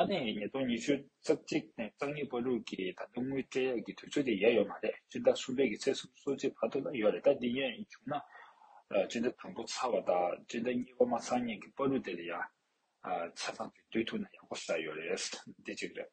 ཨ་ནེ་ཉིས་སྟོང་ཉི་ཤུ་རྩ་གཅིག་ནས་རྩ་གཉིས་པར་ལུགས་ཀྱི་ད་དུང་དངུལ་སྤྲད་ཡག་གི་དུས་ཚོད་དེ་ཡལ་ཡོད་མ་རེད་སྤྱིར་བདག་གསུམ་པའི་གི་ཚེ་གསུམ་སོ་གཅིག་བར་དུ་ལ་ཡོད་རེད་ད་འདི་ཡན་བྱུང་ན་སྤྱིར་ད་དང་པོ་ཚར་བ་དང་སྤྱིར་ད་གཉིས་པ་མ་ཚང་ཉིན་གི་པར་ལུགས་དེ་ལ་ཡང་ཆ་ཚང་གི་དུས་ཐུག་ན་ཡག་པོ་ཟ་ཡོད་རེད་འདི་གཅིག་རེད།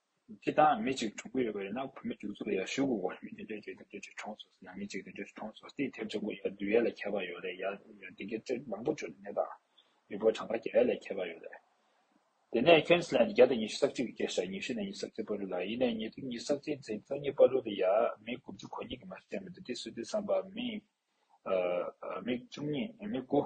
ཁྱེད་རང་ལ་མི་གཅིག་གྲོངས་གི་ཡོད་པ་རེད་ན་བུད་མེད་བཅུ་གཙོ་ཡར་ཞུ་དགོས་གོ་མི་དེ་འདྲས་ཀྱི་དེ་འདྲས་གྲོངས་སོང་ཟེར་ན་མི་གཅིག་དེ་འདྲས་གྲོངས་སོང་ཟེར་ཐེབས་ཆེན་པོ་ཡར་བདུན་ཡར་ལ་ཁྱད་པར་ཡོད་རེད་ཡར་ཡར་དེ་གའི་ཅེར་མང་པོ་བྱོས་ནས་ད་མི་བོད་གྲངས་ཀ་བརྒྱ་ཡར་ལ་ཁྱད་པར་ཡོད་རེད་དེ་ནས་ཁེན་སི་ལན་དུ་བརྒྱ་དང་ཉི་ཤུ་སག་གཅིག་གི་སྐད་ཤར་ཉི་ཤུ་ནས་ཉི་ཤུ་སག་གཅིག་པར་རུ་ལ་ཡིན་ནས་ཉི་དུ་ཉི་སག་གཅིག་ཚེ་རྩ་གཉིས་པར་རུ་དུ་ཡར་མི་དགུ་བཅུ་གོ་གཉིས་ཀྱི་མ་ཤི་ཡང་མི་དུ་དེ་སུ་དེ་བསམ་པ་མི་མི་བཅུ་གཉིས་མི་དགུ།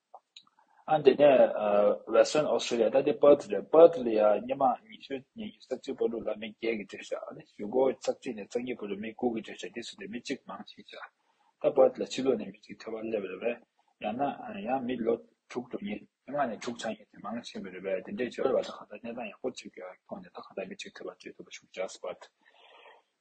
ཨ་འདི་ནས Western Australia ད་དེ Perth རེད Perth ལ་ཡང་སྙེ་མ་ཉི་ཤུ་ཉི་ཉི་རྩ་བཅུ་པོ་ལུག་ལ་མི་བརྒྱད་ཀྱི་བྲོས་བྱ་ཨ་ནི་བཞུགས་སྒོ་རྩ་བཅུ་ནས་རྩ་གཉིས་པོ་ལུག་མི་དགུ་གི་བྲོས་བྱ་དེ་སུ་དེ་མི་གཅིག་མང་ཞིག་བྱ་ད Perth ལ་ཕྱི་ལོག་ནས་མི་གཅིག་ཐོས་པ་སླེབས་རེད་བས་ཡང་ན་ཡང་མི་ལོ་དྲུག་དྲུག་ཉིས་ལྔ་ནས་དྲུག་ཆགས་ཡིན་དེ་མང་ཆེན་པོ་རེད་བས་དེ་འདྲའི་བྱོལ་བ་ད་གང་ལྟར་གནས་སྟངས་ཡག་པོ་གཅིག་ཐོག་ནས་ད་གང་ལྟར་མི་གཅིག་ཐོས་པ་བྲོས་ཐུབ་པ་ཞུགས་བྱ Perth།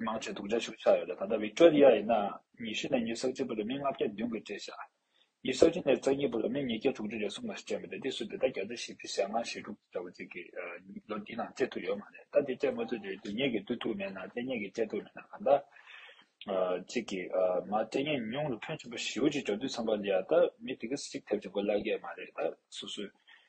དམངས་ཁྲོད་དུག་འདྲ་ཤུགས་ཆགས་ཡོད་ལ་ད་ལྟ་བིག་ཀྲོ་རི་ཡ་ཡིན་ནའང་ཉི་ཤུ་ནས་ཉི་ས་གཅིག་པོ་ལ་མི་ལྔ་བརྒྱ་བདུན་གྱིས་བཀྲེས་ཤག་ཉི་ས་བཅུ་ནས་རྩ་གཉིས་པོ་ལ་མི་ཉིས་བརྒྱ་དྲུག་ཅུ་རེ་ཟུང་ལ་སྤྲད་མི་འདུག་འདི་སུ་དེ་ལྟར་བརྒྱ་རྩ་བཞི་བཅུ་ཞེ་ལྔ་ཞེ་དྲུག་ཅུ་འདྲ་བོ་གཅིག་གིས་ལོ་འདིའི་ནང་སྤྲད་ཐུབ་ཡོད་མ་རེད་ད་དེ་སྤྲད་མ་ཐུབ་དུས་དེ་ཉིད་ཀྱིས་བསྡུ་ཐུབ་མེད་ན་སྤྲད་ཉེས་ཀྱིས་སྤྲད་ཐུབ་མེད་ན་གང་ལྟར་གཅིག་གིས་མ་སྤྲད་ཉེས་ཉུང་ལ་ཕོན་ཆེན་པོ་བཞི་བོ་གཅིག་འདྲ་བསྡུས་ཚང་པ་ལ་ཡ་ད་མི་དེ་གེ་སྲིད་གཅིག་ཐེབས་ཀྱི་མགོ་བརླག་གི་མ་རེད་ད་སོ་སོས